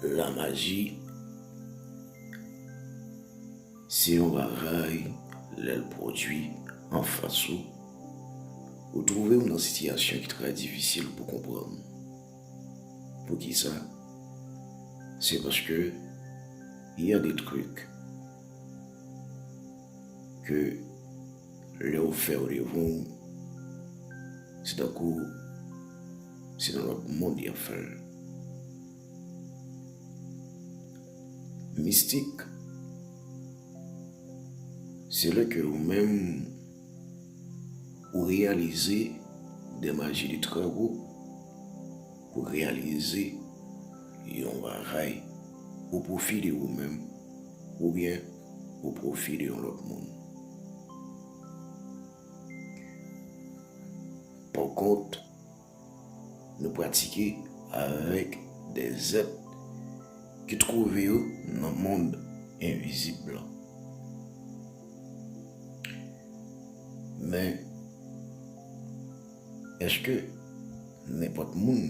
La maji se yon bagay lè l pwodui an fas ou, ou twouve w nan sitiyasyon ki trè difisil pou konprann. Poukisa? Se paske y a de trik ke. Lè ou fè randevou w, se tankou se nan lòt mond y ap fè l. Mistik, se lè ke ou menm ou reyalize de maji de trè wo, ou reyalize yon bagay o pwofi de ou menm oubyen. Au profit de yon lòt moun. Por kont, nou pratike avèk de zèt ki twouve yo nan mond envizib lan. Men, èske nenpòt moun.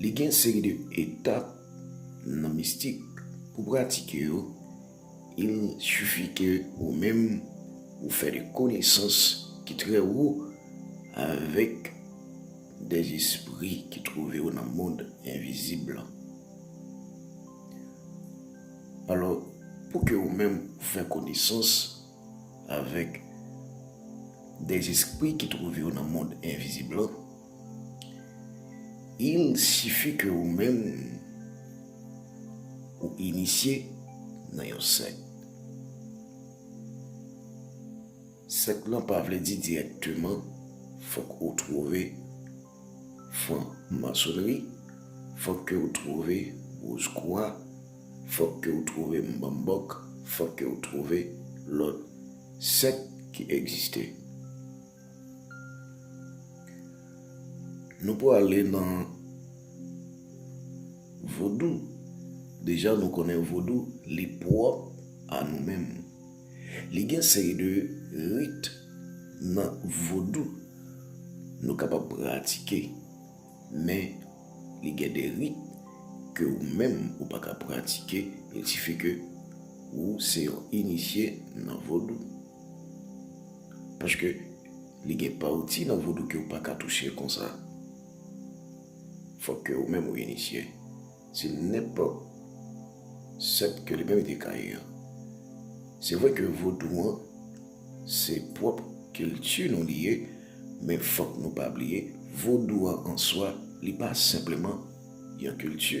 Li gen yon seri de etap nan mistik pou pratike yo, il suffit ke ou menm ou fè de konesans ki trè wo avèk de espri ki twouve yo nan mond envizib lan. Alò, pou ke ou menm ou fè konesans avèk de espri ki twouve yo nan mond envizib lan, Il sifi ke ou menm ou inisye nan yon sèk. Sèk lan pa vle di dirèkteman fòk ou twouve fran masonri, fòk ke ou twouve woz kwa, fòk ke ou twouve mbambòk, fòk ke ou twouve lòt sèk ki egziste. Nou prale nan vodou. Deja nou konnen vodou li pwòp a nou menm. Li gen seri de rit nan vodou nou kapab pratike. Men li gen de rit ke ou menm ou pa ka pratike. Li sifi ke ou se yon inisye nan vodou. Paske li gen pati nan vodou ke ou pa ka touche konsa. Fòk ke ou menm ou inisye. Se nenpòt sèt ke li menm li te ka ye. Se vre ke vodou an, se pwòp kilti nou li ye, men fòk nou pa bliye, vodou an answa, li pa senpleman yon kilti.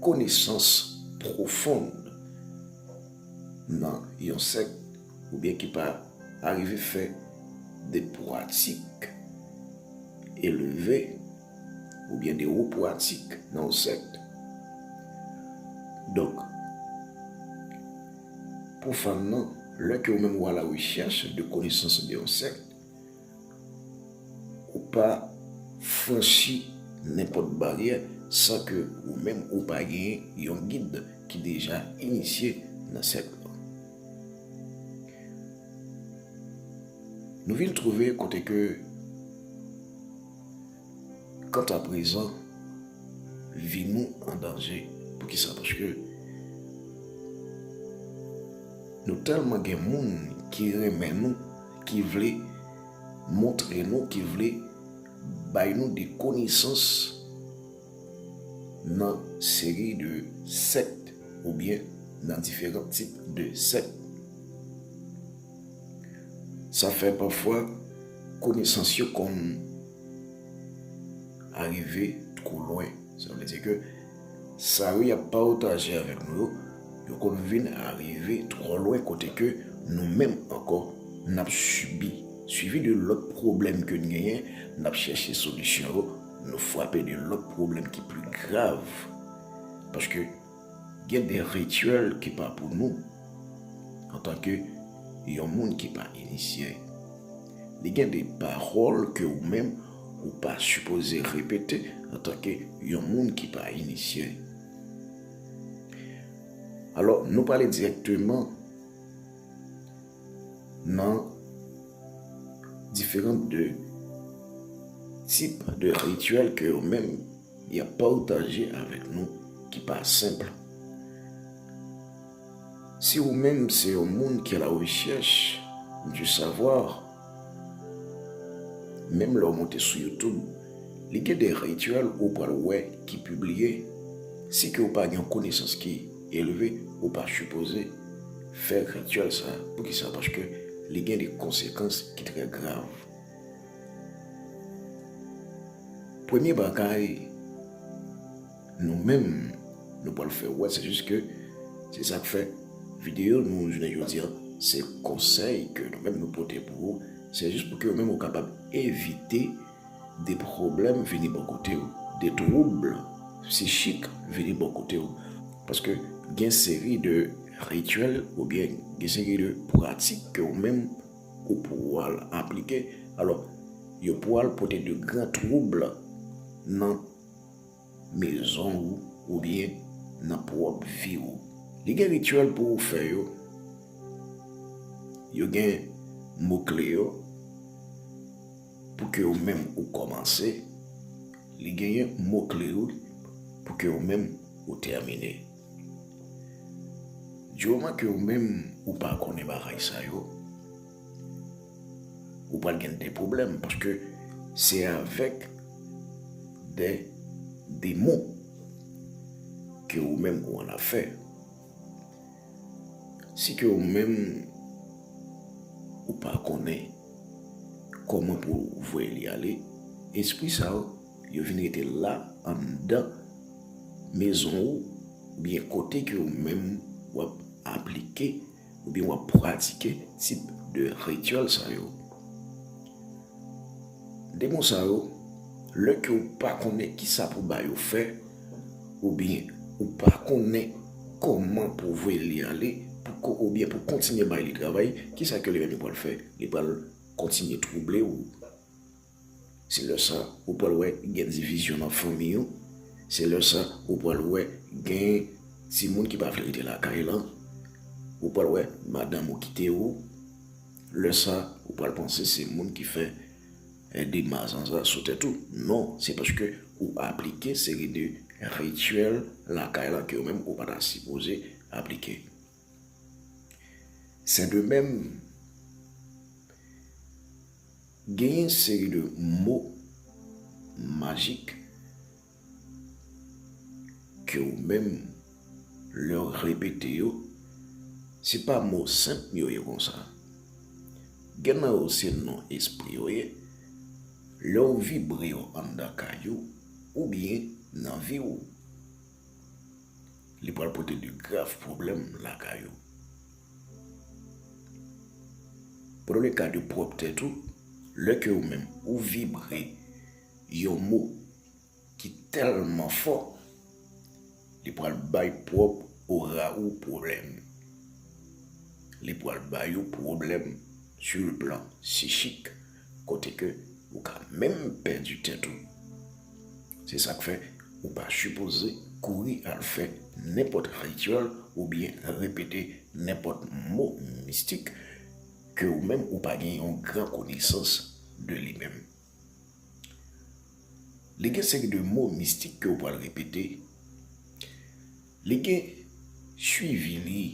Konesans pwofon nan yon sèk oubyen ki pa arive fè de pwatik eleve oubyen de wo pwatik nan yon sèk. Donk, pwofàn nan, lè ke ou menm ou a la rechèch de konesans de yon sèk, Ou pa franchi nenpòt baryè san ke ou menm ou pa gen yon gid ki deja inisye nan sèk lan. Nou vin twouve kote ke. Kanta prezan, vi nou an danje. Poukisa? Paske nou tèlman gen moun ki renmen nou, ki vle montre nou, ki vle bay nou de konesans nan seri de sèkt oubyen nan diferan tip de sèkt. Sa fè pafwa konesans yo konn arive two lwen. Sa vle di ke sa yo yap pataje avèk nou yo, yo konn vin arive two lwen kote ke nou menm ankò nap sibi. Sivi de lòt pwoblèm ke n genyen, nap chèche solisyon yo, nou fwape de lòt pwoblèm ki pi grav. Paske. Gen de rituel ki pa pou nou antanke yon moun ki pa inisye. Li gen de pawòl ke ou menm ou pa sipoze repete antanke yon moun ki pa inisye. Alò nou pale direkteman nan diferant de tip de rituel ke ou menm. Y ap pataje avèk nou ki pa senp. Si ou menm se yon moun ki alawechèch di savwa, menm lè ou monte sou youtoub, li gen de rityèl ou pral wè ki pibliye. Si ke ou pa gen yon konesans ki elve, ou pa sipoze fè rityèl sa. Poukisa? Paske li gen de konsekans ki trè grav. Premye bagay nou menm nou pral fè wè se jis ke se sak fè videyo nou jounen jodi an se konsèy ke nou menm nou pote pou ou se jis pou ke ou menm ou kapab evite de pwoblèm vini bò kote ou, de twoub psichik vini bò kote ou paske gen seri de rityèl oubyen gen seri de pratik ke ou menm. Ou pwal aplike, alò, yo pwal pote de gran twoub nan mezon ou oubyen nan pwòp vi ou. Li gen rityèl pou ou fè yo, yo gen mo kle yo pou ke ou menm ou kòmanse, li genyen mo kle yo pou ke ou menm ou tèmine. Dyoman ke ou menm ou pa konnen bagay sa yo, ou pral gen de pwoblèm paske se avèk de demon ke ou menm ou an afè. Si ke ou menm ou pa konnen kòman pou ou voye li ale, espri sa yo. Yo vin rete la anndan mezon ou oubyen kote ke ou menm w ap aplike oubyen w ap pratike tip de rityèl sa yo. Demon sa yo, lè ke ou pa konnen ki sa pou ba yo fè, oubyen ou pa konnen kòman pou voye li ale, oubyen pou kontinye bay li travay, ki sa ke li menm li pral fè? Li pral kontinye twouble ou. Se lè sa ou pral wè gen divizyon nan fanmi yo, se lè sa ou pral wè gen timoun ki pa vle rete lakay lan, ou pral wè madanm ou kite ou, lè sa ou pral panse se moun ki fè de mazanza sou tèt ou. Non, se paske ou aplike seri de rityèl lakay lan ke ou menm ou pa ta sipoze aplike. Sen de menm, gen yon seri de mo majik ke ou menm lè ou repete yo, se pa mo senp yo ye konsa. Gen nan yo se non espri yo ye, lè ou vibre yo anndan kay ou oubyen nan vi ou. li pral pote de grav pwoblèm lakay ou. Pou nou le ka de pwòp tèt ou, lè ke ou menm ou vibre yon mo ki tèlman fò, li pral bay pwòp ora ou pwoblèm. Li pral bay ou pwoblèm sou le plan sichik. Kote ke ou ka menm pèdi tèt ou. Se sak fè ou pa sipoze kouri al fè nenpòt rityèl ou byen repete nenpòt mo mistik ke ou menm ou pa gen yon gran konesans de li menm. Li gen seri de mo mistik ke ou pral repete. Li gen swivi li.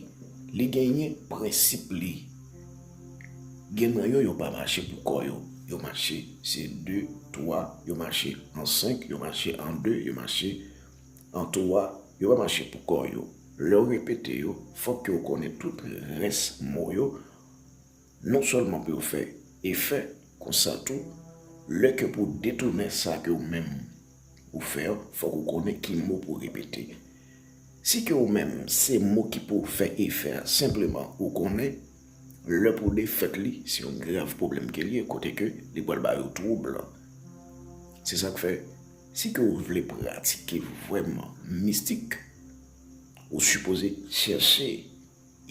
Li genyen prensip li. Gen nan yo yo pa mache pou kò yo. Yo mache se de, twa, yo mache an senk, yo mache an de, yo mache an twa. Yo pa mache pou kò yo. Lè ou repete yo, fòk ke ou konnen tout rès mo yo. Non sèlman pou yo fè efè, konsa tou, lè ke pou w detounen sa ke ou menm ou fè an, fòk ou konnen ki mo pou w repete. Si ke ou menm se mo ki pou fè efè a, senpleman ou konnen lè pou w defèt li, se yon grav pwoblèm ke li ye, kote ke li pral bay ou twoub. Se sa k fè, si ke ou vle pratike vrèman mistik, ou sipoze chèche.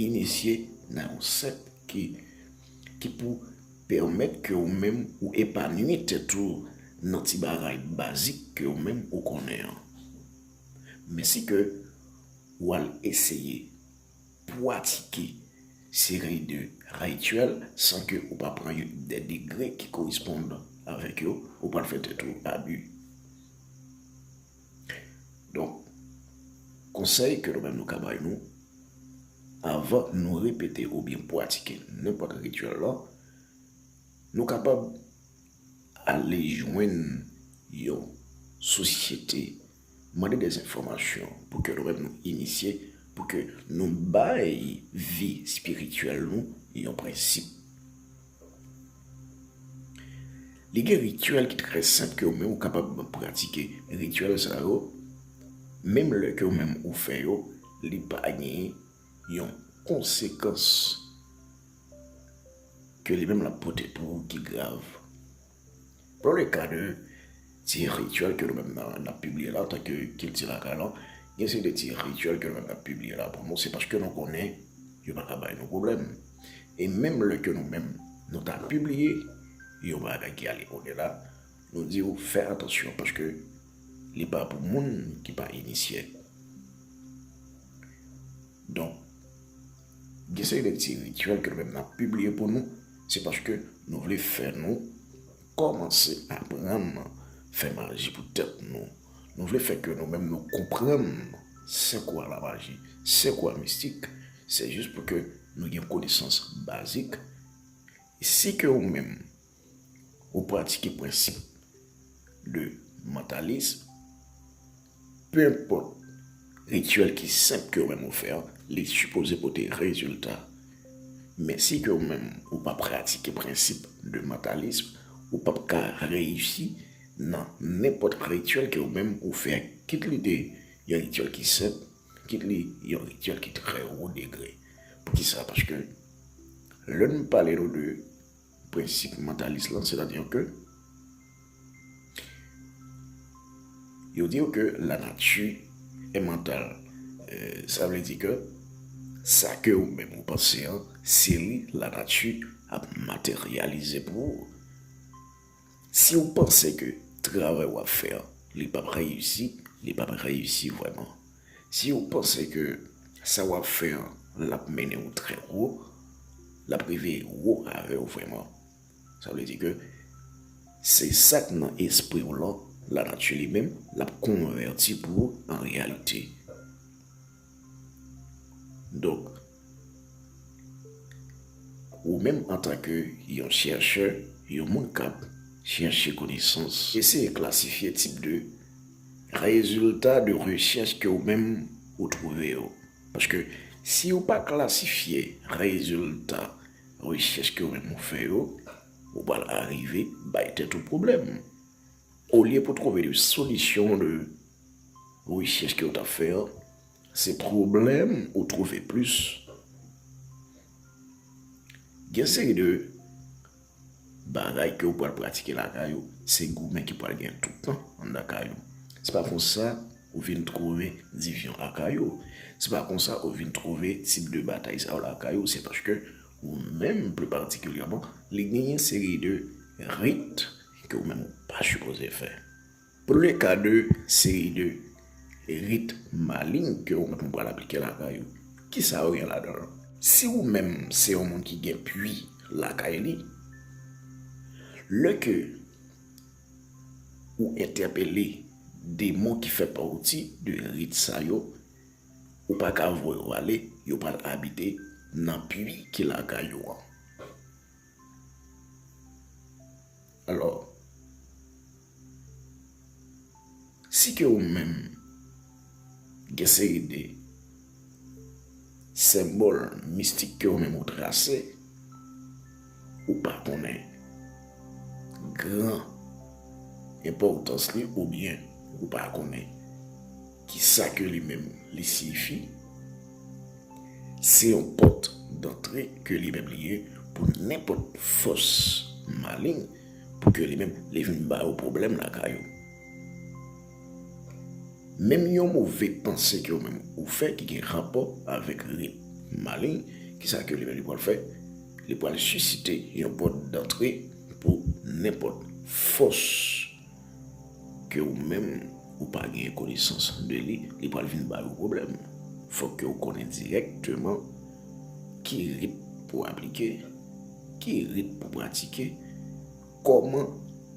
inisye nan yon sèk ki pou pèmèt ke ou menm ou epanwi tèt ou nan ti bagay bazik ke ou menm ou konnen an. Men si ke ou al eseye pwatike seri de rityèl san ke ou pa pran yon de degre ki koresponn avèk yo, ou pral fè tèt ou abi. Donk, konsèy ke nou menm nou ka bay nou, avan nou repete ou byen pwatike nenpòt rityèl la, nou kapab ale jwenn yon sosyete, mande dè enfòmasyon pou ke nou menm nou inisye, pou ke nou bay vi espirityèl nou yon prensip. Li gen rityèl ki trè senp ke ou menm ou kapab pratike. Rityèl sa yo, menm lè ke ou menm ou fè yo, li pa gen yon konsekans ke li menm la pote pou ou ki grav. Pran le ka de ti rityèl ke nou menm nan ap pibliye la antan ke kilti lakay lan, gen seri de ti rityèl ke nou menm nan ap pibliye la pou nou, se paske nou konnen yo pa ka bay nou pwoblèm. E menm lè ke nou menm nou ta pibliye yon bagay ki ale odela, nou di ou fè atansyon paske li pa pou moun ki pa inisye. Donk, Gen seri de ti rityèl ke nou menm nap pibliye pou nou, se paske nou vle fè nou kòmanse aprann fè maji pou tèt nou. Nou vle fè ke nou menm nou konprann se kwa la maji, se kwa mistik, se jis pou ke nou gen konesans bazik. Si ke ou menm ou pratike prensip de mantalism, pe enpòt rityèl ki senp ke ou menm ou fè an, li sipoze pote rezilta. Men si ke ou menm ou pa pratike prensip de mantalism, ou p ap ka reyisi nan nenpòt rityèl ke ou menm ou fè, kit li te yon rityèl ki senp, kit li yon rityèl ki trè wo degre. Poukisa? Paske lè nou pale nou de. Prensip mantalis lan, sètadi ke yo di yo ke lanati e mantal. Sa vle di ke sa ke ou menm ou panse an, se li lanati ap materyalize pou ou. Si ou panse ke travay wap fè an li pap reyisi, li pap reyisi vreman. Si ou panse ke sa wap fè an lap mennen ou trè wo, lap rive wo avè ou vreman. Sa vle di ke se sak nan espri ou lan, lanati li menm lap konvèti pou ou an reyalite. Donk, ou menm antanke yon chèchè, yon moun k ap chèche konesans, eseye klasifye tip de rezilta de rechèch ke ou menm ou twouve yo. Paske si ou pa klasifye rezilta rechèch ke ou menm ou fè yo, ou pral arive bay tèt ou pwoblèm olye pou twouve de solisyon de. Rechèch ke ou tap fè an se pwoblèm ou twouve plis. Gen seri de bagay ke ou pral pratike lakay ou, se goumen ki pral gen tout tan anndan kay ou. Se pa konsa ou vin twouve divizyon lakay ou, se pa konsa ou vin twouve tip de batay sa yo lakay ou, se paske ou menm pli patikilyèman li gen yon seri de rit ke ou menm ou pa sipoze fè. Pou le ka de seri de rit maling ke ou menm ou pral aplike ladan yo, ki sa yo gen ladan yo? Si ou menm se yon moun ki gen pwi lakay li, le ke ou entèpele demon ki fè pawti de rit sa yo, ou pa ka voye yo ale, yo pral abite nan pwi ki lakay ou an. Alò, si ke ou menm gen seri de senbòl mistik ke ou menm ou trase, ou pa konnen gran enpòtans li oubyen ou pa konnen. Ki sa ke li menm li siyifi? Se yon pòt dantre ke li menm li ye pou nenpòt fòs maleng pou ke li menm li vin ba yo pwoblèm lakay ou. Menm yon move panse ke ou menm ou fè ki gen rapò avèk rit maleng, ki sa ke li menm li pral fè? Li pral sisite yon pòt dantre pou nenpòt fòs. ke ou menm ou pa gen konesans de li, li pral vin ba ou pwoblèm. Fòk ke ou konnen dirèkteman ki rit pou aplike, ki rit pou pratike, kòman,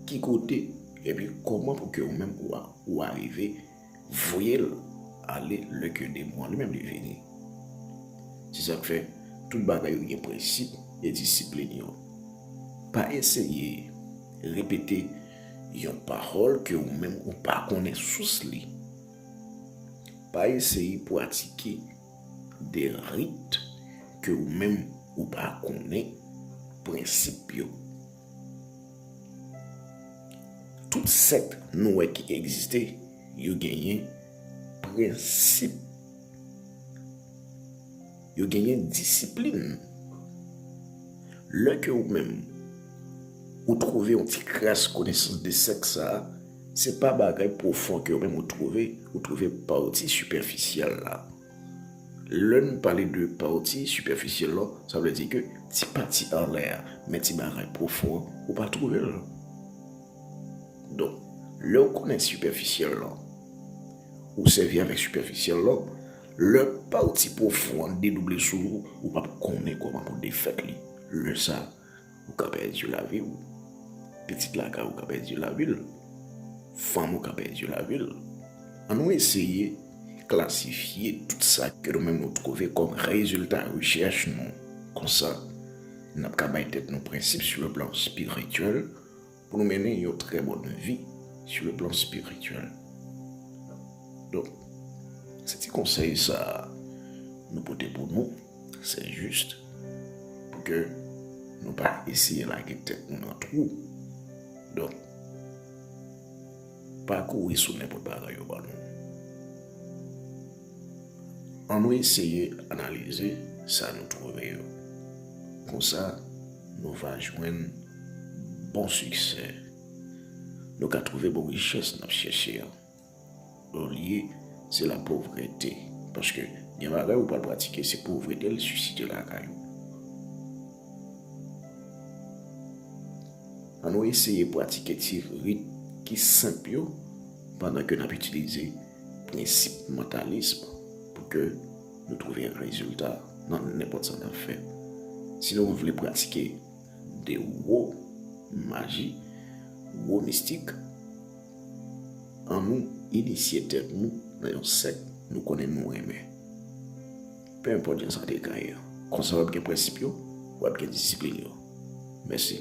ki kote, epi kòman pou ke ou menm ou arive voyel ale lè ke demon an li menm li vini. Se sak fè tout bagay yo gen prensip e disiplin yo. Pa eseye repete yon pawòl ke ou menm ou pa konnen sous li. Pa eseye pwatike de rit ke ou menm ou pa konnen prensip yo. Tout sèk nou wè ki egziste, yo genyen prensip. Yo genyen disiplin. Lè ke ou menm, ou twove yon ti kras konesans de sèk sa, se pa bagay pwofon ke ou menm ou twove, ou twove pati sipèfisyèl la. Lè n pale de pati sipèfisyèl lan, sa vle di ke ti pati anlè a, men ti bagay pwofon an, ou pa twouve l. Donk, lè ou konnen sipèfisyèl lan, ou sèvi avèk sipèfisyèl lan, lè pati pwofon an dedouble sou ou, ou p ap konnen kòman pou defèt li. Lè sa. ou ka pèdi lavi w, pitit lakay ou ka pèdi lavi l, fanm ou ka pèdi lavi l. An nou eseye klasifye tout sa ke nou menm nou twouve kòm rezilta rechèch nou. Konsa, n ap ka bay tèt nou prensip sou le plan espirityèl Pou nou mennen yon trè bòn vi sou le plan spirityèl. Donk, se ti konsèy sa nou pote pou nou, se jist pou ke nou pa eseye lage tèt nou nan twou. Donk, pa kouri sou nenpòt bagay yo ban nou. An nou eseye analize sa nou twouve yo. Konsa nou va jwenn bon siksè. Nou ka twouve bon richès n ap chèche an. Olye se lapovrete. Paske gen bagay ou pral pratike se povrete l sisite lakay ou. An nou eseye pratike ti rit ki senp yo pandan ke n ap itilize. prensip mantalism pou ke nou twouve rezilta nan nenpòt sa n ap fè. Si nou vle pratike de wo maji, wo mistik, an nou inisye tèt nou nan yon sèk nou konnen nou renmen. Pe enpòt jan sa te ka ye, konsa w ap gen prensip yo, w ap gen disiplin yo. Mèsi.